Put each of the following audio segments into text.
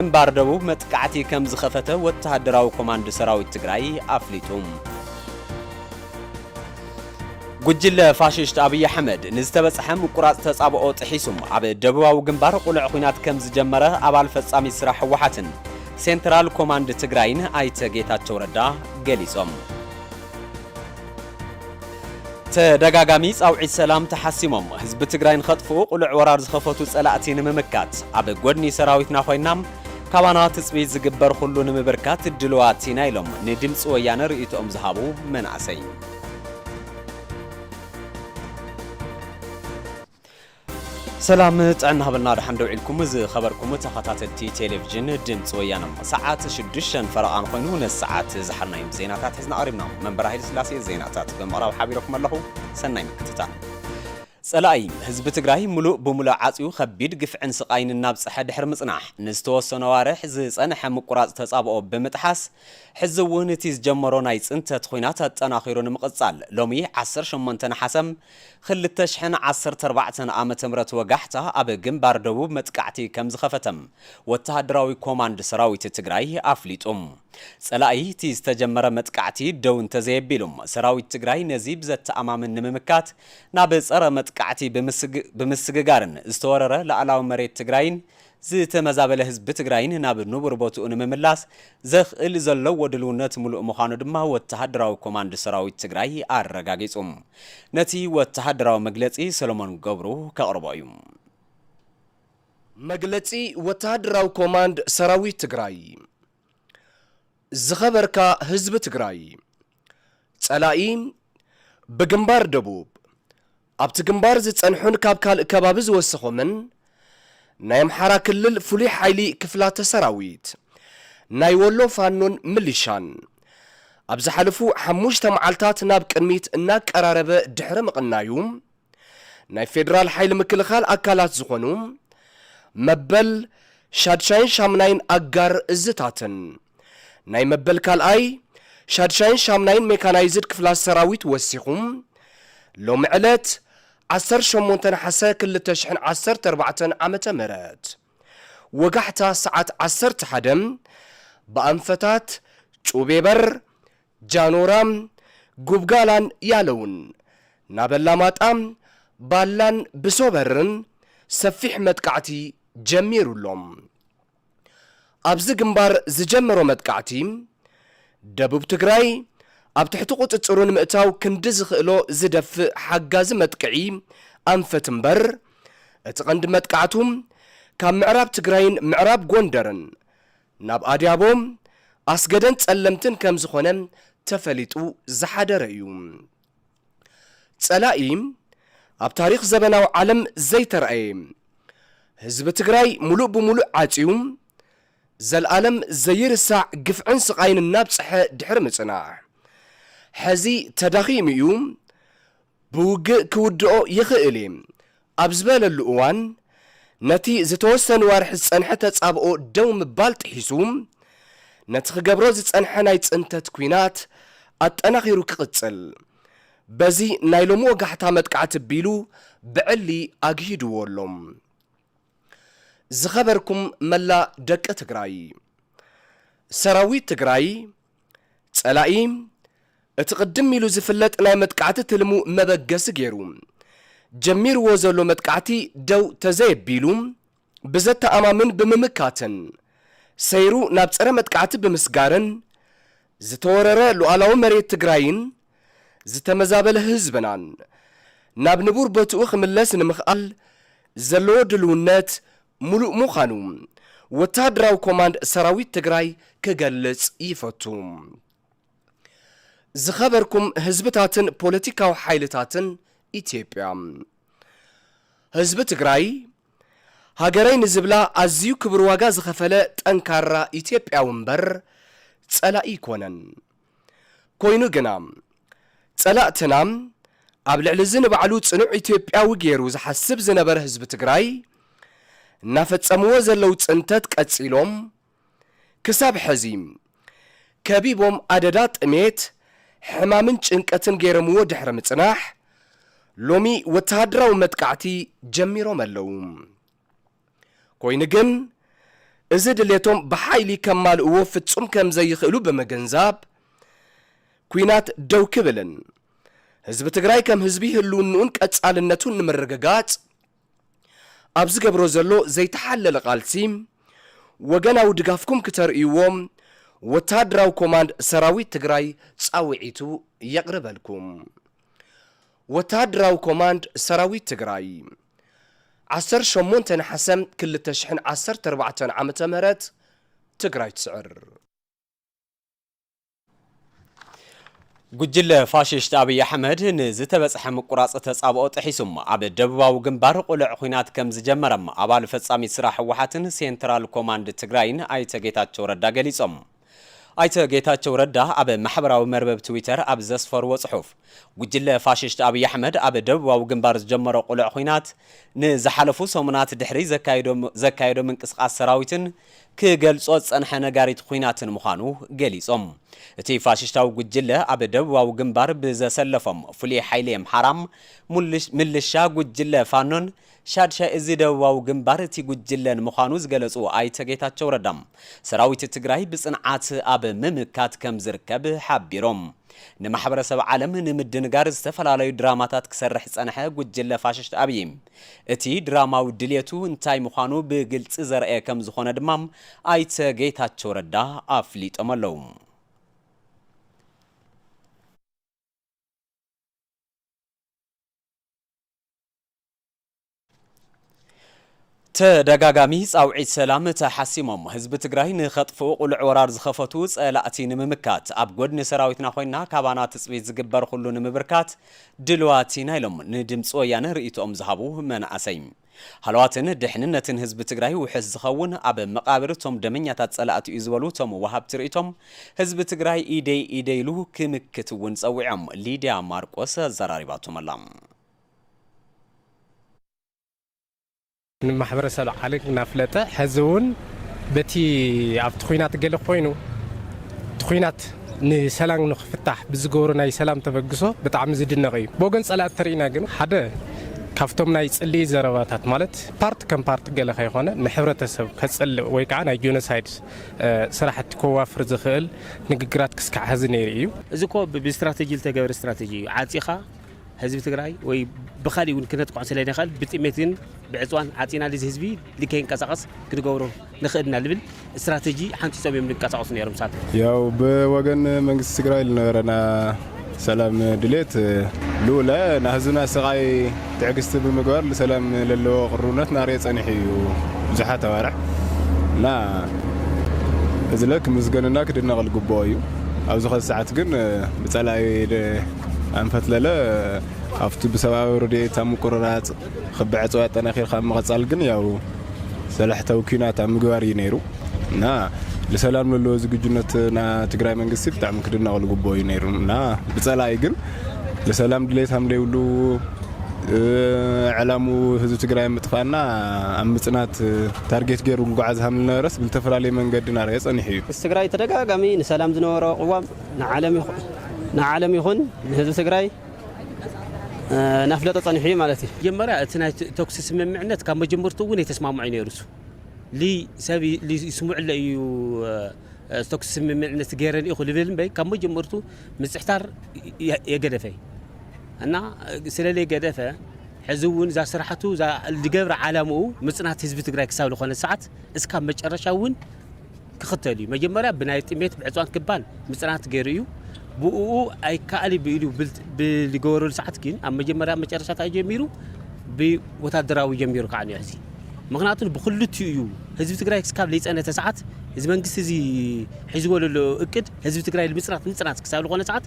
ግንባር ደቡብ መጥቃዕቲ ከም ዝኸፈተ ወተሃደራዊ ኮማንድ ሰራዊት ትግራይ ኣፍሊጡ። ጉጅለ ፋሽስት ኣብይ ኣሕመድ ንዝተበጽሐ ምቁራጽ ተጻብኦ ጥሒሱ ኣብ ደቡባዊ ግንባር ቁልዕ ኹናት ከም ዝጀመረ ኣባል ፈጻሚት ስራሕ ህወሓትን ሴንትራል ኮማንድ ትግራይን ኣይተ ጌታቸው ረዳ ገሊጾም። ተደጋጋሚ ፃውዒት ሰላም ተሓሲሞም ህዝቢ ትግራይ ንኸጥፍኡ ቕሉዕ ወራር ዝኸፈቱ ፀላእቲ ንምምካት ኣብ ጎድኒ ሰራዊትና ኾይና ካባና ትፅቢት ዝግበር ኹሉ ንምብርካት ድልዋት ኢና ኢሎም ንድምፂ ወያነ ርእይቶኦም ዝሃቡ መናእሰይ። ሰላም ጥዕና ሃበልና ድሓን ደው ኢልኩም ዝኸበርኩም ተኸታተልቲ ቴሌቪዥን ድምፂ ወያነ ሰዓት ሽዱሽተን ፈረቓን ኮይኑ ነዚ ሰዓት ዝሓናዮም ዜናታት ሒዝና ቀሪብና መንበራ ሃይለ ስላሴ ዜናታት ብምቕራብ ሓቢረኩም ኣለኹ ሰናይ ምክትታል ጸላኢ ህዝቢ ትግራይ ሙሉእ ብሙሉእ ዓጽዩ ከቢድ ግፍዕን ስቓይን እናብጽሐ ድሕሪ ምጽናሕ ንዝተወሰነ ኣዋርሕ ዝጸንሐ ምቁራጽ ተጻብኦ ብምጥሓስ ሕዚ እውን እቲ ዝጀመሮ ናይ ጽንተት ኹናት ኣጠናኺሩ ንምቕጻል ሎሚ 18 ነሓሰም ኽልተ ሽሕን ዓሰርተ ኣርባዕተን ዓመተ ምህረት ወጋሕታ ኣብ ግንባር ደቡብ መጥቃዕቲ ከምዝኸፈተ ወተሃደራዊ ኮማንድ ሰራዊት ትግራይ ኣፍሊጡ። ፀላኢ እቲ ዝተጀመረ መጥቃዕቲ ደው እንተዘየቢሉ ሰራዊት ትግራይ ነዚ ብዘተኣማምን ንምምካት ናብ ፀረ መጥቃዕቲ ብምስግጋርን ዝተወረረ ላእላዊ መሬት ትግራይን ዝተመዛበለ ህዝቢ ትግራይን ናብ ንቡር ቦትኡ ንምምላስ ዘኽእል ዘለዎ ድልውነት ሙሉእ ምዃኑ ድማ ወተሃደራዊ ኮማንድ ሰራዊት ትግራይ ኣረጋጊፁ። ነቲ ወተሃደራዊ መግለፂ ሰሎሞን ገብሩ ከቕርቦ እዩ። መግለፂ ወተሃደራዊ ኮማንድ ሰራዊት ትግራይ። ዝኸበርካ ህዝቢ ትግራይ! ፀላኢ ብግንባር ደቡብ ኣብቲ ግንባር ዝጸንሑን ካብ ካልእ ከባቢ ዝወሰኾምን ናይ ኣምሓራ ክልል ፍሉይ ሓይሊ ክፍላተ ሰራዊት፣ ናይ ወሎ ፋኖን ምሊሻን፣ ኣብ ዝሓለፉ ሓሙሽተ መዓልታት ናብ ቅድሚት እናቀራረበ ድሕሪ ምቕናዩ፣ ናይ ፌደራል ሓይሊ ምክልኻል ኣካላት ዝኾኑ መበል ሻድሻይን ሻምናይን ኣጋር እዝታትን፣ ናይ መበል ካልኣይ፣ ሻድሻይን ሻምናይን ሜካናይዝድ ክፍላት ሰራዊት ወሲኹ፣ ሎሚ ዕለት ዓሰርተ ሸሞንተ ነሓሰ ክልተ ሽሕን ዓሰርተ ኣርባዕተን ዓመተ ምህረት ወጋሕታ ሰዓት ዓሰርተ ሓደ ብኣንፈታት ጩቤበር፣ ጃኖራ፣ ጉብጋላን ያለውን ናብ ኣላማጣ፣ ባላን ብሶበርን ሰፊሕ መጥቃዕቲ ጀሚሩ ኣሎ። ኣብዚ ግንባር ዝጀመሮ መጥቃዕቲ ደቡብ ትግራይ ኣብ ትሕቲ ቁፅፅሩ ንምእታው ክንዲ ዝኽእሎ ዝደፍእ ሓጋዚ መጥቅዒ ኣንፈት እምበር እቲ ቀንዲ መጥቃዕቱ ካብ ምዕራብ ትግራይን ምዕራብ ጎንደርን ናብ ኣድያቦ፣ ኣስገደን ፀለምትን ከምዝኾነ ተፈሊጡ ዝሓደረ እዩ። ፀላኢ ኣብ ታሪኽ ዘበናዊ ዓለም ዘይተርኣየ ህዝቢ ትግራይ ሙሉእ ብሙሉእ ዓፅዩ ዘልኣለም ዘይርሳዕ ግፍዕን ስቓይን እናብፀሐ ድሕሪ ምፅናሕ ሐዚ ተዳኺሙ እዩ ብውግእ ክውድኦ ይኽእል እየ ኣብ ዝበለሉ እዋን፣ ነቲ ዝተወሰኑ ኣዋርሕ ዝጸንሐ ተጻብኦ ደው ምባል ጥሒሱ፣ ነቲ ክገብሮ ዝጸንሐ ናይ ጽንተት ኲናት ኣጠናኺሩ ክቕጽል፣ በዚ ናይ ሎሚ ወጋሕታ መጥቃዕቲ ኣቢሉ ብዕሊ ኣግሂዱዎ ኣሎ። ዝኸበርኩም መላእ ደቂ ትግራይ! ሰራዊት ትግራይ፣ ጸላኢ እቲ ቅድም ኢሉ ዝፍለጥ ናይ መጥቃዕቲ ትልሙ መበገሲ ገይሩ ጀሚርዎ ዘሎ መጥቃዕቲ ደው ተዘየቢሉ ብዘተኣማምን ብምምካትን ሰይሩ ናብ ጸረ መጥቃዕቲ ብምስጋርን ዝተወረረ ሉኣላዊ መሬት ትግራይን ዝተመዛበለ ህዝብናን ናብ ንቡር ቦትኡ ክምለስ ንምኽኣል ዘለዎ ድልውነት ሙሉእ ምዃኑ ወተሃደራዊ ኮማንድ ሰራዊት ትግራይ ክገልፅ ይፈቱ። ዝኸበርኩም ህዝብታትን ፖለቲካዊ ሓይልታትን ኢትዮጵያ። ህዝቢ ትግራይ ሃገረይ ንዝብላ ኣዝዩ ክብር ዋጋ ዝኸፈለ ጠንካራ ኢትዮጵያዊ እምበር ፀላኢ ኣይኮነን። ኮይኑ ግና ፀላእትና ኣብ ልዕሊ እዚ ንባዕሉ ፅኑዕ ኢትዮጵያዊ ገይሩ ዝሓስብ ዝነበረ ህዝቢ ትግራይ እናፈፀምዎ ዘለው ፅንተት ቀፂሎም ክሳብ ሐዚ ከቢቦም ኣደዳ ጥሜት፣ ሕማምን ጭንቀትን ገይረምዎ ድሕሪ ምፅናሕ ሎሚ ወተሃደራዊ መጥቃዕቲ ጀሚሮም ኣለው። ኮይኑ ግን እዚ ድሌቶም ብሓይሊ ከማልእዎ ፍጹም ከም ዘይኽእሉ ብምግንዛብ ኲናት ደው ክብልን ህዝቢ ትግራይ ከም ህዝቢ ህልውንኡን ቀጻልነቱን ንምርግጋጽ ኣብ ዝገብሮ ዘሎ ዘይተሓለለ ቃልሲ ወገናዊ ድጋፍኩም ክተርእይዎ ወተሃደራዊ ኮማንድ ሰራዊት ትግራይ ጻውዒቱ የቕርበልኩም። ወተሃደራዊ ኮማንድ ሰራዊት ትግራይ ዓሰርተ ሸሞንተ ነሓሰ ክልተ ሽሕን ዓሰርተ ኣርባዕተን ዓመተ ምህረት ትግራይ ትስዕር! ጉጅለ ፋሽስት ኣብይ ኣሕመድ ንዝተበጽሐ ምቁራጽ ተጻብኦ ጥሒሱ ኣብ ደቡባዊ ግንባር ቁልዕ ኹናት ከምዝጀመረ ኣባል ፈጻሚት ስራሕ ህወሓትን ሴንትራል ኮማንድ ትግራይን ኣይተ ጌታቸው ረዳ ገሊጾም። ኣይተ ጌታቸው ረዳ ኣብ ማሕበራዊ መርበብ ትዊተር ኣብ ዘስፈርዎ ፅሑፍ፣ ጉጅለ ፋሽስት ኣብይ ኣሕመድ ኣብ ደቡባዊ ግንባር ዝጀመሮ ቅሉዕ ኹናት ንዝሓለፉ ሰሙናት ድሕሪ ዘካየዶ ዘካየዶ ምንቅስቓስ ሰራዊትን ክገልፆ ዝፀንሐ ነጋሪት ኹናትን ምዃኑ ገሊፆም። እቲ ፋሽስታዊ ጉጅለ ኣብ ደቡባዊ ግንባር ብዘሰለፎም ፍሉይ ሓይሊ ኣምሓራ፣ ምልሻ ጉጅለ ፋኖን ሻድሻይ እዚ ደቡባዊ ግንባር እቲ ጉጅለን ምዃኑ ዝገለፁ ኣይተ ጌታቸው ረዳ፣ ሰራዊት ትግራይ ብፅንዓት ኣብ ምምካት ከምዝርከብ ሓቢሮም። ንማሕበረሰብ ዓለም ንምድንጋር ዝተፈላለዩ ድራማታት ክሰርሕ ዝፀንሐ ጉጅለ ፋሽስት ኣብዪ፣ እቲ ድራማዊ ድልየቱ እንታይ ምዃኑ ብግልፂ ዘርኣየ ከምዝኾነ ድማ ኣይተ ጌታቸው ረዳ ኣፍሊጦም ኣለው። ተደጋጋሚ ፃውዒት ሰላም ተሓሲሞም ህዝቢ ትግራይ ንኸጥፍኡ ቁልዕ ወራር ዝኸፈቱ ፀላእቲ ንምምካት ኣብ ጎድኒ ሰራዊትና ኮይና ካባና ትፅቢት ዝግበር ኹሉ ንምብርካት ድልዋት ኢና ኢሎም ንድምፂ ወያነ ርእይትኦም ዝሃቡ መናእሰይ። ሃለዋትን ድሕንነትን ህዝቢ ትግራይ ውሕስ ዝኸውን ኣብ መቓብር እቶም ደመኛታት ፀላእቲ እዩ ዝበሉ እቶም ወሃብቲ ርእይቶም ህዝቢ ትግራይ ኢደይ ኢደይ ኢሉ ክምክት እውን ፀዊዖም። ሊድያ ማርቆስ ኣዘራሪባቶም ኣላ። ንማሕበረሰብ ዓለም እናፍለጠ ሐዚ እውን በቲ ኣብቲ ኹናት ገለ ኮይኑ እቲ ኹናት ንሰላም ንክፍታሕ ብዝገበሮ ናይ ሰላም ተበግሶ ብጣዕሚ ዝድነቕ እዩ። ብወገን ፀላእቲ ተሪእና ግን ሓደ ካብቶም ናይ ፅልኢ ዘረባታት ማለት ፓርት ከም ፓርት ገለ ከይኾነ ንሕብረተሰብ ከፅልእ ወይ ከዓ ናይ ጆኖሳይድ ስራሕቲ ከዋፍር ዝኽእል ንግግራት ክስካዕ ሐዚ ነይሩ እዩ። እዚ እኮ ብስትራተጂ ዝተገበረ ስትራተጂ እዩ። ዓፂኻ ህዝቢ ትግራይ ወይ ብካሊእ እውን ክነጥቅዖ ስለንኸእል ብጥሜት ግን ብዕፅዋን ዓፂና ልዚ ህዝቢ ልከይንቀሳቐስ ክንገብሮ ንኽእል ኢና ልብል ስትራቴጂ ሓንፂፆም እዮም ልንቀሳቐሱ ነይሮም ንሳቶም ያው ብወገን መንግስቲ ትግራይ ልነበረና ሰላም ድሌት ልኡለ ናህዝብና ስቓይ ትዕግስቲ ብምግባር ልሰላም ለለዎ ቅርብነት ናርየ ጸኒሑ እዩ ብዙሓት ኣዋርሕ እና እዚለ ክምስገንና ክድነቕ ልግብኦ እዩ ኣብዚ ኸዚ ሰዓት ግን ብጸላኢ ኣንፈት ለለ ኣብቲ ብሰብኣዊ ረድኤት ኣብ ምቁርራፅ ክቢ ዕፅዋ ኣጠናኺርካ ኣብ ምቐፃል ግን ያው ሰላሕታዊ ኩናት ኣብ ምግባር እዩ ነይሩ እና ልሰላም ለለዎ ዝግጁነት ና ትግራይ መንግስቲ ብጣዕሚ ክድነቕ ልግብኦ እዩ ነይሩ እና ብፀላኢ ግን ልሰላም ድሌት ሃምደይብሉ ዕላሙ ህዝቢ ትግራይ ምጥፋእና ኣብ ምፅናት ታርጌት ገይሩ ጉጓዓዝ ሃምልነበረስ ብዝተፈላለየ መንገዲ ናረየ ፀኒሑ እዩ። ምስ ትግራይ ተደጋጋሚ ንሰላም ዝነበሮ ቅዋም ንዓለም ይኹን ንህዝቢ ትግራይ ናፍለጠ ፀኒሑ እዩ ማለት እዩ። መጀመርያ እቲ ናይ ተኩሲ ስምምዕነት ካብ መጀመርቱ እውን የተስማምዑ እዩ ነይሩ እሱ ሰብ ይስምዑለ እዩ ተኩሲ ስምምዕነት ገይረ ኢኹ ልብል እምበይ ካብ መጀመርቱ ምፅሕታር የገደፈ እና ስለለይ ገደፈ ሕዚ እውን እዛ ስራሕቱ ዝገብረ ዓላምኡ ምፅናት ህዝቢ ትግራይ ክሳብ ዝኾነ ሰዓት እስካብ መጨረሻ እውን ክኽተል እዩ። መጀመርያ ብናይ ጥሜት ብዕፅዋን ክባን ምፅናት ገይሩ እዩ። ብእኡ ኣይከኣል ብኢሉ ብዝገበረሉ ሰዓት ግን ኣብ መጀመርያ መጨረሻ እንታይ ጀሚሩ ብወታደራዊ ጀሚሩ ከዓ እኒኦ ሕዚ ምክንያቱ ብክልቲኡ እዩ ህዝቢ ትግራይ ክስካብ ዘይፀነተ ሰዓት እዚ መንግስቲ እዚ ሒዝዎ ዘሎ እቅድ ህዝቢ ትግራይ ንምፅናት ምፅናት ክሳብ ዝኾነ ሰዓት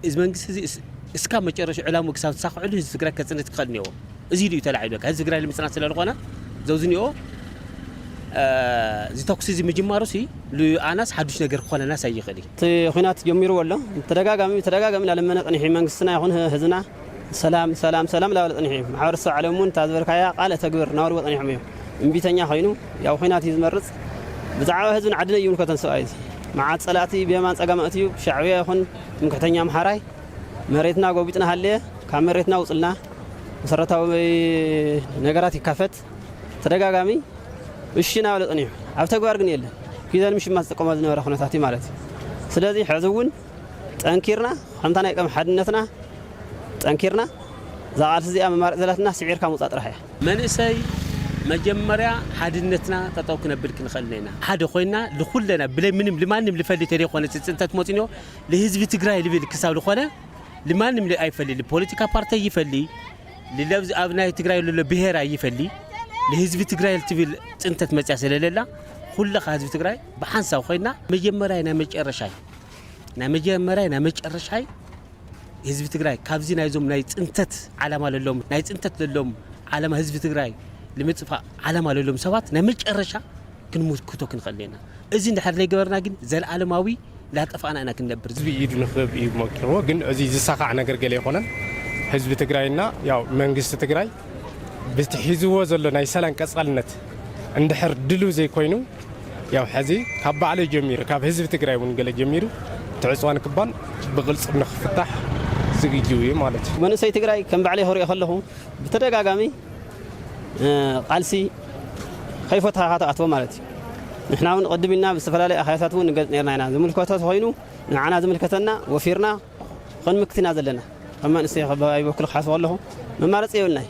እዚ መንግስቲ እዚ እስካብ መጨረሻ ዕላሙ ክሳብ ዝሳክዕሉ ህዝቢ ትግራይ ከፅንት ክኸእል እኒኦዎ እዚ ኢሉ እዩ ተላዒሉ በቃ ህዝቢ ትግራይ ንምፅናት ስለ ዝኾነ ዘውዚ እኒኦ እዚ ተኩሲ እዚ ምጅማሩ ሲ ንኣናስ ሓዱሽ ነገር ክኾነናስ ኣይኽእል እዩ እቲ ኩናት ጀሚርዎ ኣሎ ተደጋጋሚ ተደጋጋሚ እናለመነ ቅኒሒ መንግስትና ይኹን ህዝብና ሰላም ሰላም ሰላም ላበለ ጸኒሑ እዩ። ማሕበረሰብ ዓለም እውን እታ ዝበልካያ ቃል እተግብር እናበልዎ ጸኒሖም እዮም። እምቢተኛ ኮይኑ ያው ኹናት እዩ ዝመርጽ። ብዛዕባ ህዝብን ዓድን ኣይምልከቶን ሰብኣይ እዚ። መዓት ጸላእቲ ብየማን ጸጋም ኣእትዩ ብሻዕብያ ይኹን ትምክሕተኛ ኣምሓራይ መሬትና ጎቢጡ እናሃለየ ካብ መሬትና ውጹልና መሰረታዊ ነገራት ይካፈት ተደጋጋሚ እሺ እናበለ ጸኒሑ ኣብ ተግባር ግን የለን። ኪዘን ምሽማት ዝጥቀሞ ዝነበረ ኩነታት እዩ ማለት እዩ። ስለዚ ሕዚ እውን ጠንኪርና ከምታ ናይ ቀም ሓድነትና ጠንኪርና እዛ ቃልሲ እዚኣ መማረፂ ዘላትና ስዒርካ ምውፃእ ጥራሕ እያ። መንእሰይ መጀመርያ ሓድነትና ጠጠው ክነብል ክንኽእል እኔና። ሓደ ኮይና ልኹለና ብለይ ምንም ልማንም ልፈሊ ተደይኮነ እቲ ፅንተት ሞፅንዮ ልህዝቢ ትግራይ ልብል ክሳብ ልኾነ ልማንም ኣይፈሊ ልፖለቲካ ፓርቲ ኣይፈሊ ልለብዝ ኣብ ናይ ትግራይ ልሎ ብሄር ኣይፈሊ ልህዝቢ ትግራይ ልትብል ፅንተት መፅያ ስለለላ ኩለኻ ህዝቢ ትግራይ ብሓንሳብ ኮይና መጀመርያ ናይ መጨረሻይ ናይ መጀመርያ ናይ መጨረሻይ ህዝቢ ትግራይ ካብዚ ናይዞም ናይ ፅንተት ዓላማ ለሎም ናይ ፅንተት ለሎም ዓላማ ህዝቢ ትግራይ ንምፅፋእ ዓላማ ለሎም ሰባት ናይ መጨረሻ ክንምክቶ ክንኽእል ኢና እዚ እንድሕር ዘይገበርና ግን ዘለኣለማዊ እንዳጠፋእና ኢና ክንነብር ህዝቢ ኢዱ ንክብ እዩ መቂርዎ ግን እዚ ዝሳኻዕ ነገር ገለ ኣይኮነን ህዝቢ ትግራይና ያው መንግስቲ ትግራይ ብቲ ሒዝዎ ዘሎ ናይ ሰላም ቀጻልነት እንድሕር ድልው ዘይኮይኑ ያው ሐዚ ካብ ባዕለይ ጀሚሩ ካብ ህዝቢ ትግራይ እውን ገለ ጀሚሩ እቲ ዕፅዋ ንክባል ብቕልፅም ንክፍታሕ ዝግጅው እዩ ማለት እዩ። መንእሰይ ትግራይ ከም ባዕለይ ክሪኦ ከለኹ ብተደጋጋሚ ቃልሲ ከይፈታሕኻ ትኣትዎ ማለት እዩ። ንሕና እውን ቅድም ኢልና ብዝተፈላለዩ ኣኼባታት እውን ንገልፅ ነይርና ኢና። ዝምልከቶ ተኾይኑ ንዓና ዝምልከተና ወፊርና ኽንምክት ኢና ዘለና። ከም መንእሰይ ከባቢያዊ በኩል ክሓስቦ ከለኹ መማረፂ የብልናይ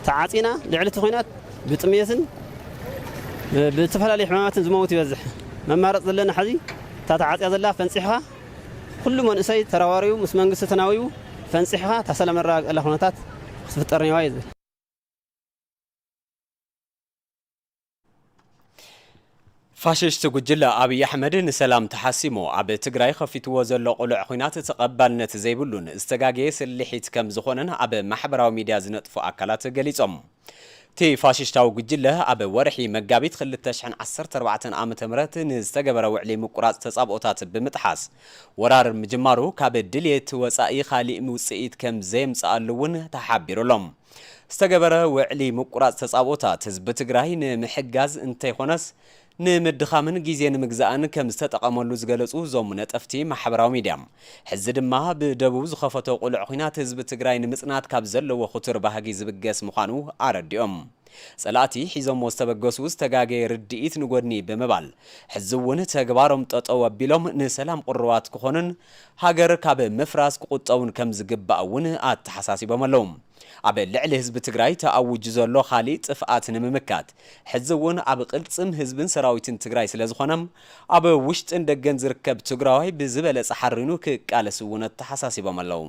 ተዓፂና ልዕሊ እቲ ኹናት ብጥምየትን ብዝተፈላለዩ ሕማማትን ዝመውት ይበዝሕ መማረፂ ዘለና ሐዚ እታ ተዓፅያ ዘላ ፈንፂሕኻ ኹሉ መንእሰይ ተረባሪቡ ምስ መንግስቲ ተናዊቡ ፈንፂሕኻ እታ ሰላም ነረጋግፀላ ኹነታት ክትፍጠር ኔዋ እየ ዝብል። ፋሽሽቲ ጉጅለ ኣብይ ኣሕመድ ንሰላም ተሓሲሙ ኣብ ትግራይ ኸፊትዎ ዘሎ ቅሉዕ ኹናት ተቐባልነት ዘይብሉን ዝተጋገየ ስልሒት ከምዝኾነን ኣብ ማሕበራዊ ሚድያ ዝነጥፉ ኣካላት ገሊፆም። እቲ ፋሽሽታዊ ጉጅለ ኣብ ወርሒ መጋቢት ክልተ ሽሕን ዓሰርተ ኣርባዕተን ዓ ም ንዝተገበረ ውዕሊ ምቁራፅ ተፃብኦታት ብምጥሓስ ወራር ምጅማሩ ካብ ድልየት ወፃኢ ካሊእ ውፅኢት ከምዘየምፀኣሉ እውን ተሓቢሩሎም። ዝተገበረ ውዕሊ ምቁራፅ ተፃብኦታት ህዝቢ ትግራይ ንምሕጋዝ እንተይኾነስ ንምድኻምን ጊዜ ንምግዛእን ከምዝተጠቐመሉ ዝገለፁ እዞም ነጠፍቲ ማሕበራዊ ሚድያ ሕዚ ድማ ብደቡብ ዝኸፈቶ ቁልዕ ኹናት ህዝቢ ትግራይ ንምፅናት ካብ ዘለዎ ኹቱር ባህጊ ዝብገስ ምዃኑ ኣረዲኦም። ፀላእቲ ሒዞሞ ዝተበገሱ ዝተጋገየ ርድኢት ንጎድኒ ብምባል ሕዚ እውን ተግባሮም ጠጠው ኣቢሎም ንሰላም ቁሩባት ክኾኑን ሃገር ካብ ምፍራስ ክቑጠቡን ከምዝግባእ እውን ኣተሓሳሲቦም ኣለው። ኣብ ልዕሊ ህዝቢ ትግራይ ተኣውጁ ዘሎ ካሊእ ጥፍኣት ንምምካት ሕዚ እውን ኣብ ቕልፅም ህዝብን ሰራዊትን ትግራይ ስለዝኾነ ኣብ ውሽጥን ደገን ዝርከብ ትግራዋይ ብዝበለፀ ሓሪኑ ክቃለስ እውን ኣተሓሳሲቦም ኣለው።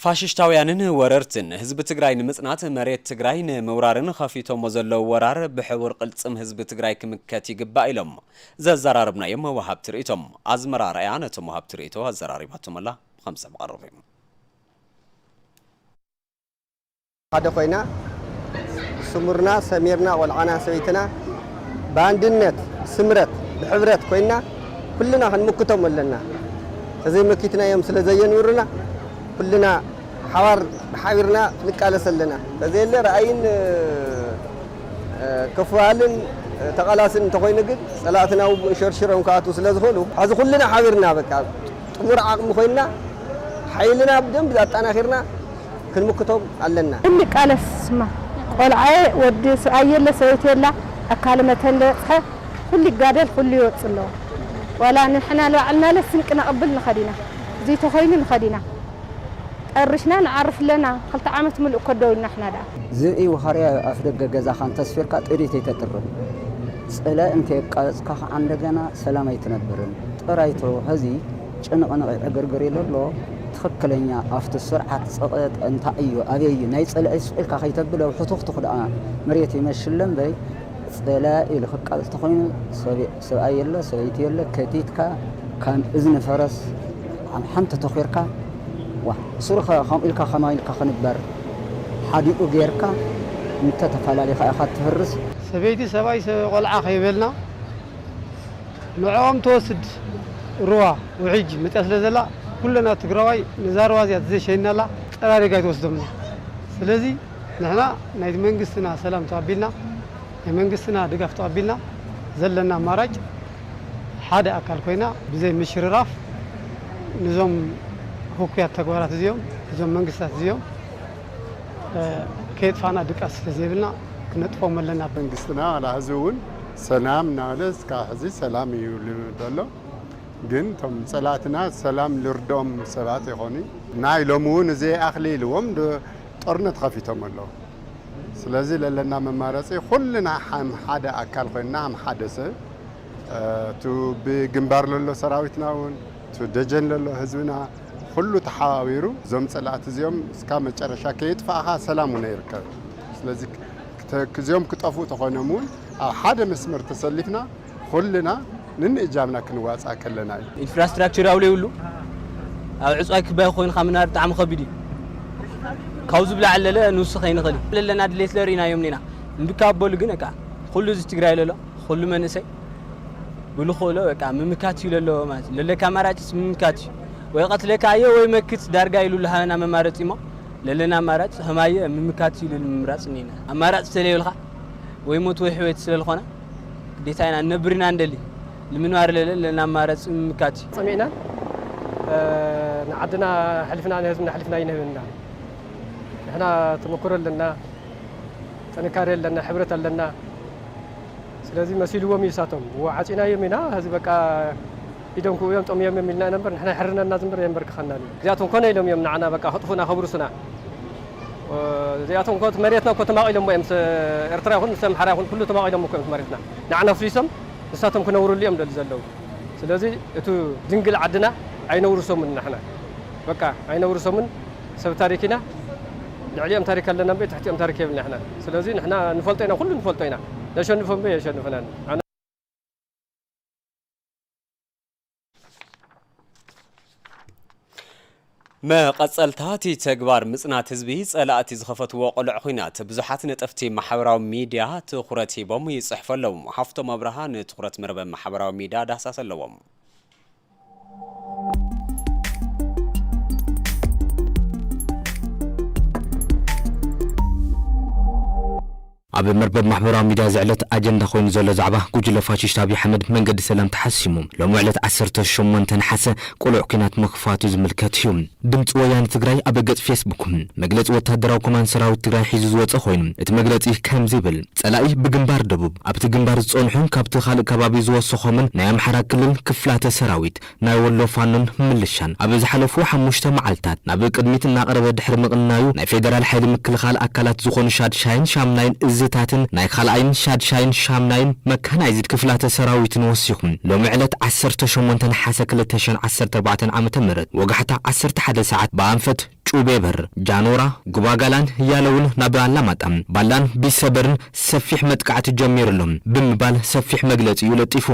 ፋሽሽታውያንን ወረርትን ህዝቢ ትግራይ ንምፅናት መሬት ትግራይ ንምውራርን ኸፊቶሞ ዘለዉ ወራር ብሕቡር ቕልፅም ህዝቢ ትግራይ ክምከት ይግባእ ኢሎም ዘዘራረብናዮም ወሃብቲ ርእይቶ። ኣዝመራ ኣርኣያ ነቶም ወሃብቲ ርእይቶ ኣዘራሪባቶም ኣላ ብኸምዚ ምቐርብ እዩ። ሓደ ኮይና ስሙርና ሰሚርና ቆልዓና ሰበይትና ብኣንድነት ብስምረት ብሕብረት ኮይና ኩልና ክንምክቶም ኣለና ተዘይ መኪትናዮም ስለ ዘየንብሩና ኩልና ሓባር ሓቢርና ንቃለስ ኣለና ተዘየለ ራእይን ክፍሃልን ተቃላስን እንተኮይኑ ግን ጸላእትና ውግእ ሸርሽሮም ክኣትዉ ስለ ዝክእሉ ሕዚ ኩልና ሓቢርና በቃ ጥሙር ዓቅሚ ኮይና ሓይልና ብደንቢ ኣጣናኪርና ክንምክቶም ኣለና። እንቃለስ ስማ ቆልዓየ ወዲ ስብኣይ የለ ሰበይቲ የላ ኣካለ መተን ለበጽሐ ኩሉ ይጋደል ኩሉ ይወጽእ ኣለዎ ዋላ ንሕና ንባዕልናለ ስንቂ ነቅብል ንከድ ኢና እዙይ ተኮይኑ ንከድ ኢና ጠርሽና ንዓርፍ ኣለና ክልተ ዓመት ምሉእ እኮ ደው ኢልና ንሕና ደኣ ዝብኢ ዋሃርያ እዩ ኣፍደገ ገዛኻ እንተስፊርካ ጥሪት ኣይተጥርፍ ጽላኢ እንተየቃበጽካ ከኣ እንደገና ሰላም ኣይትነብርን ጥራይቶ ሀዚ። ጭንቕንቕ ዕግርግር ኢሉ ኣሎ ትኽክለኛ ኣፍቲ ስርዓት ጽቕጥ እንታይ እዩ ኣበይ እዩ ናይ ጸላኢ ሱቕ ኢልካ ከይተብል ኣብ ሕቱኽቱኽ ደኣ መሬት ይመሽለ እምበይ ጸላኢ ኢሉ ክቃልስ ተኾይኑ ሰብኣይ የለ ሰበይቲ የለ ከቲትካ ከም እዝኒ ፈረስ ኣብ ሓንቲ ተኺርካ ዋ ሱርኸ ከምኡ ኢልካ ከማይ ኢልካ ክንበር ሓዲኡ ጌርካ እንተተፈላሊኻ ኢኻ እትህርስ። ሰበይቲ ሰብኣይ ቆልዓ ከይበልና ንዕኦም ትወስድ ሩባ ውሕጅ መፂኣ ስለ ዘላ ኩለና ትግራዋይ ነዛ ሩባ እዚኣ ተዘይሸይንናላ ፀራሪጋ ኣይትወስዶምን እያ ስለዚ ንሕና ናይ መንግስትና ሰላም ተቐቢልና ናይ መንግስትና ድጋፍ ተቐቢልና ዘለና ኣማራጭ ሓደ ኣካል ኮይና ብዘይ ምሽርራፍ ንዞም ህኩያት ተግባራት እዚኦም እዞም መንግስታት እዚኦም ከየጥፋእና ድቃስ ስለዘይብልና ክነጥፎም ኣለና። መንግስትና ዋላ ሕዚ እውን ሰላም እናበለ እስካብ ሕዚ ሰላም እዩ ኢሉ ዘሎ። ግን እቶም ፀላእትና ሰላም ልርድኦም ሰባት ኣይኮኑይ። ናይ ሎሚ እውን እዘይ ኣክሊ ኢልዎም ጦርነት ኸፊቶም ኣለው። ስለዚ ለለና መማረፂ ኹልና ሀም ሓደ ኣካል ኾይንና ሀም ሓደ ሰብ እቱ ብግንባር ለሎ ሰራዊትና እውን እቱ ደጀን ለሎ ህዝብና ኹሉ ተሓባቢሩ እዞም ፀላእቲ እዚኦም እስካብ መጨረሻ ከየጥፋእኻ ሰላም ዉነ ይርከብ ስለዚ ክተክዚኦም ክጠፍኡ ተኾይኖም እዉን ኣብ ሓደ መስመር ተሰሊፍና ኹልና ንንእ እጃምና ክንዋፃእ ከለና እዩ። ኢንፍራስትራክቸር ያው ለይብሉ ኣብ ዕፅዋይ ክባይ ኾይንኻ ምንባር ብጣዕሚ ኸቢድ እዩ ካዉዚ ብላዕሊ ለለ ንዉስኽ ኣይንኽእልን ለለና ድሌት ለርኢና እዮም እኔና እምቢ ካብ በሉ ግን እካ ኹሉ ህዝቢ ትግራይ ለሎ ኹሉ መንእሰይ ብልክእሎ በቃ ምምካት እዩ ለለዎ ማለት እዩ ለለካ ኣማራጭስ ምምካት እዩ ወይ ቀትለካ ኣየ ወይ መክት ዳርጋ ኢሉ ልሃበና መማረፂ እሞ ለለና ኣማራጭ ከማየ ምምካት እዩ ልል ምምራፅ እኒና ኣማራጭ ተለየብልካ ወይ ሞት ወይ ሕወት ስለልኾና ግዴታ ኢና እነብር ኢና እንደሊ ንምንባር ለለ ለለና ኣማራፂ ምምካት እዩ ፀሚእና ንዓድና ሕልፍና ንህዝብና ሕልፍና ይንህብ እና ንሕና ተመክሮ ኣለና ጥንካሬ ኣለና ሕብረት ኣለና ስለዚ መሲልዎም እዩ እሳቶም ዓፂናዮም ኢና ሀዚ በቃ ኢዶም ክውዮም ጠምዮም እዮም ኢልና ኢና እምበር ንሕና ይሕርነና ዝምበር ኣየምበርክኸናን እዩ እዚኣቶም ኮነ ኢሎም እዮም ንዓና በቃ ክጥፉና ከብርሱና እዚኣቶም እኮ መሬትና እኮ ተማቒሎሞ እዮም ምስ ኤርትራ ይኹን ምስ ኣምሓራ ይኹን ኩሉ ተማቒሎሞ እኮ እዮም መሬትና ንዓና ኣፍሪሶም ንሳቶም ክነብርሉ እዮም ደሊ ዘለዉ ስለዚ እቲ ድንግል ዓድና ኣይነውርሶምን ንሕና በቃ ኣይነውርሶምን ሰብ ታሪክ ኢና ልዕሊኦም ታሪክ ኣለና እምበይ ትሕቲኦም ታሪክ የብልና ንሕና ስለዚ ንሕና ንፈልጦ ኢና ኩሉ ንፈልጦ ኢና ነሸንፎ እምበይ ኣየሸንፉናን። መቐፀልታ እቲ ተግባር ምፅናት ህዝቢ ፀላእቲ ዝኸፈትዎ ቅሉዕ ኹናት ብዙሓት ነጠፍቲ ማሕበራዊ ሚድያ ትኹረት ሂቦም ይፅሕፉ ኣለዉ። ሃፍቶም ኣብርሃ ንትኹረት መርበብ ማሕበራዊ ሚድያ ዳህሳስ ኣለዎም። ኣብ መርበብ ማሕበራዊ ሚድያ ዝዕለት ኣጀንዳ ኮይኑ ዘሎ ዛዕባ ጉጅለ ፋሽሽት ኣብይ ኣሕመድ መንገዲ ሰላም ተሓሲሙ ሎሚ ዕለት ዓሰርተ ሸሞንተ ነሓሰ ቅሉዕ ኲናት ምኽፋቱ ዝምልከት እዩ። ድምፂ ወያነ ትግራይ ኣብ ገፅ ፌስቡኩ መግለፂ ወታደራዊ ኮማንድ ሰራዊት ትግራይ ሒዙ ዝወፀ ኮይኑ እቲ መግለፂ ከምዚ ይብል፣ ፀላኢ ብግንባር ደቡብ ኣብቲ ግንባር ዝፀንሑን ካብቲ ካልእ ከባቢ ዝወሰኾምን ናይ ኣምሓራ ክልል ክፍላተ ሰራዊት፣ ናይ ወሎ ፋኖን ምልሻን ኣብ ዝሓለፉ ሓሙሽተ መዓልታት ናብ ቅድሚት እናቐረበ ድሕሪ ምቕናዩ ናይ ፌደራል ሓይሊ ምክልኻል ኣካላት ዝኾኑ ሻድሻይን ሻምናይን እዝታትን ናይ ካልኣይን ሻድሻይን ሻምናይን መካናይዝድ ክፍላተ ሰራዊትን ወሲኹ ሎሚ ዕለት ዓሰርተ ሸሞንተ ነሓሰ ክልተ ሽሕን ዓሰርተ ኣርባዕተን ዓመተ ምህረት ወጋሕታ ዓሰርተ ሓደ ሰዓት ብኣንፈት ጩቤበር፣ ጃኖራ፣ ጉባጋላን ያለውን ናብ ኣላማጣን ባላን ቢሰበርን ሰፊሕ መጥቃዕቲ ጀሚሩ ኣሎ ብምባል ሰፊሕ መግለጺኡ ለጢፉ።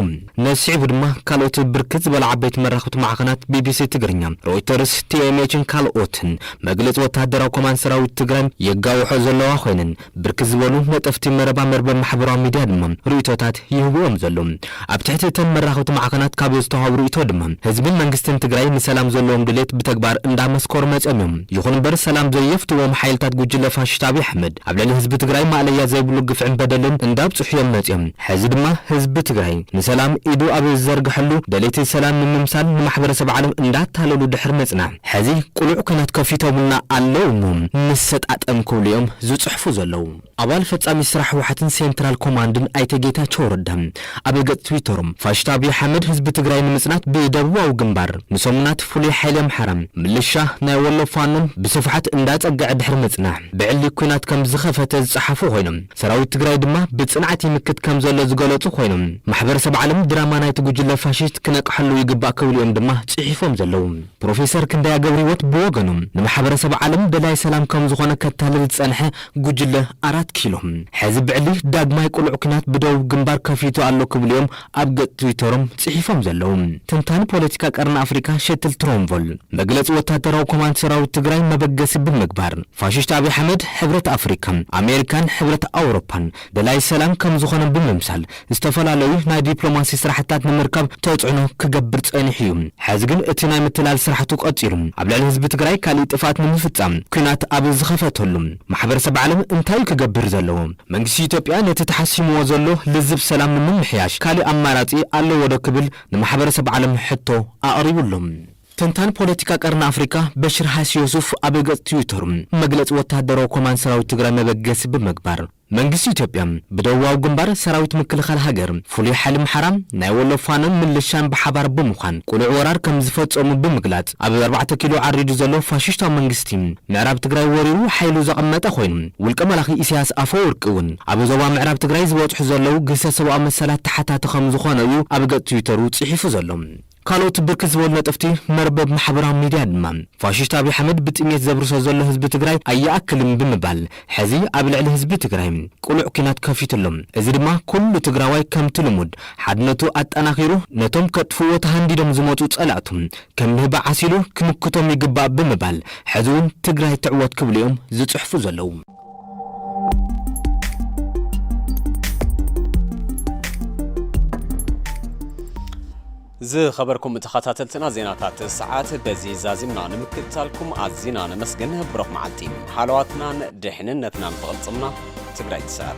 ነዚ ስዒቡ ድማ ካልኦት ብርክት ዝበላ ዓበይቲ መራኸብቲ ማዕኸናት ቢቢሲ ትግርኛ፣ ሮይተርስ፣ ቲኤምኤችን ካልኦትን መግለጺ ወተሃደራዊ ኮማንድ ሰራዊት ትግራይ የጋውሖ ዘለዋ ኮይነን፣ ብርክት ዝበሉ ነጠፍቲ መረባ መርበብ ማሕበራዊ ሚድያ ድማ ርእይቶታት ይህቡ እዮም ዘለዉ። ኣብ ትሕቲ እተን መራኸብቲ ማዕኸናት ካብ ዝተውሃቡ ርእይቶ ድማ ህዝብን መንግስትን ትግራይ ንሰላም ዘለዎም ድሌት ብተግባር እንዳመስከሩ መፅዮም እዮም። ይኹን እምበር ሰላም ዘየፍትዎም ሓይልታት ጉጅለ ፋሽስት ኣብይ ኣሕመድ ኣብ ልዕሊ ህዝቢ ትግራይ ማእለያ ዘይብሉ ግፍዕን በደልን እንዳብፅሑ እዮም መፅዮም። ሕዚ ድማ ህዝቢ ትግራይ ንሰላም ኢዱ ኣብ ዝዘርገሐሉ ደለይቲ ሰላም ንምምሳል ንማሕበረሰብ ዓለም እንዳታለሉ ድሕሪ ምፅናሕ፣ ሕዚ ቅሉዕ ኩነት ከፊቶምልና ኣለው እሞ ንሰጣጠም ክብሉ እዮም ዝፅሕፉ ዘለው። ኣባል ፈፃሚ ስራሕ ህወሓትን ሴንትራል ኮማንድን ኣይተ ጌታቸው ረዳ ኣብ ገፅ ትዊተሮም ፋሽስት ኣብይ ኣሕመድ ህዝቢ ትግራይ ንምፅናት ብደቡባዊ ግንባር ንሰሙናት ፍሉይ ሓይሊ ኣምሓራ፣ ምልሻ ናይ ወሎ ፋኖን ብስፍሓት እንዳፀገዐ ድሕሪ ምፅናሕ ብዕሊ ኩናት ከምዝኸፈተ ዝፀሓፉ ኮይኖም፣ ሰራዊት ትግራይ ድማ ብፅንዓት ይምክት ከምዘሎ ዝገለፁ ኾይኖም ማሕበረሰብ ዓለም ድራማ ናይቲ ጉጅለ ፋሽስት ክነቅሐሉ ይግባእ ክብሉ እዮም ድማ ፅሒፎም ዘለው። ፕሮፌሰር ክንደያ ገብርሂወት ብወገኖም ንማሕበረሰብ ዓለም ደላይ ሰላም ከምዝኾነ ከታልል ዝፀንሐ ጉጅለ ኣራት ኪሎ ሐዚ ብዕሊ ዳግማይ ቅሉዕ ኲናት ብደቡብ ግንባር ከፊቱ ኣሎ ክብሉ እዮም ኣብ ገጽ ትዊተሮም ጽሒፎም ዘለዉ ተንታኒ ፖለቲካ ቀርኒ ኣፍሪካ ሸትል ትሮንቮል መግለጺ ወታደራዊ ኮማንድ ሰራዊት ትግራይ መበገሲ ብምግባር ፋሽሽት ኣብይ ኣሕመድ ሕብረት ኣፍሪካ ኣሜሪካን ሕብረት ኣውሮፓን ደላይ ሰላም ከምዝኾነ ብምምሳል ዝተፈላለዩ ናይ ዲፕሎማሲ ስራሕትታት ንምርካብ ተፅዕኖ ክገብር ፀኒሑ እዩ ሐዚ ግን እቲ ናይ ምትላል ስራሕቱ ቀፂሉ ኣብ ልዕሊ ህዝቢ ትግራይ ካሊእ ጥፍኣት ንምፍፃም ኲናት ኣብ ዝኸፈተሉ ማሕበረሰብ ዓለም እንታይ'ዩ ክገብር ዘለዎ? መንግስቲ ኢትዮጵያ ነቲ ተሓሲምዎ ዘሎ ልዝብ ሰላም ንምምሕያሽ ካልእ ኣማራጺ ኣለዎ'ዶ ክብል ንማሕበረሰብ ዓለም ሕቶ ኣቕሪቡ ኣሎ። ተንታኒ ፖለቲካ ቀርኒ ኣፍሪቃ በሽር ሃይስዮሱፍ ኣብ ገጽ ትዊተሩ፣ መግለጺ ወተሃደራዊ ኮማንድ ሰራዊት ትግራይ መበገሲ ብምግባር፣ መንግስቲ ኢትዮጵያ ብደቡባዊ ግንባር ሰራዊት ምክልኻል ሃገር፣ ፍሉይ ሓይሊ ኣምሓራ፣ ናይ ወሎ ፋኖን ምልሻን ብሓባር ብምዃን ቅሉዕ ወራር ከምዝፈጸሙ ብምግላጽ፣ ኣብ ኣርባዕተ ኪሎ ዓሪዱ ዘሎ ፋሽሽታዊ መንግስቲ ምዕራብ ትግራይ ወሪሩ ሓይሉ ዘቐመጠ ኮይኑ ውልቀ መላኺ ኢሳያስ ኣፈወርቂ እውን ኣብ ዞባ ምዕራብ ትግራይ ዝበፅሑ ዘለው ግህሰት ሰብኣዊ መሰላት ተሓታቲ ከምዝኾነ እዩ ኣብ ገፅ ትዊተሩ ፅሒፉ ዘሎ። ካልኦት ብርክት ዝበሉ ነጠፍቲ መርበብ ማሕበራዊ ሚድያ ድማ ፋሽሽት ኣብይ ኣሕመድ ብጥምየት ዘብርሶ ዘሎ ህዝቢ ትግራይ ኣይኣክልን ብምባል ሕዚ ኣብ ልዕሊ ህዝቢ ትግራይ ቅሉዕ ኩናት ከፊቱ ኣሎ። እዚ ድማ ኩሉ ትግራዋይ ከምቲ ልሙድ ሓድነቱ ኣጠናኺሩ ነቶም ከጥፍእዎ ተሃንዲዶም ዝመፁ ፀላእቱ ከም ንህቢ ዓሲሉ ክምክቶም ይግባእ ብምባል ሕዚ እውን ትግራይ ትዕወት ክብሉ እዮም ዝፅሕፉ ዘለዉ። ዝኸበርኩም ተኸታተልትና ዜናታት ሰዓት በዚ ዛዚምና ንምክትታልኩም ኣዚና ነመስግን። ብሩኽ መዓልቲ። ሃለዋትናን ድሕንነትናን ብቕልጽምና ትግራይ ትስዕር።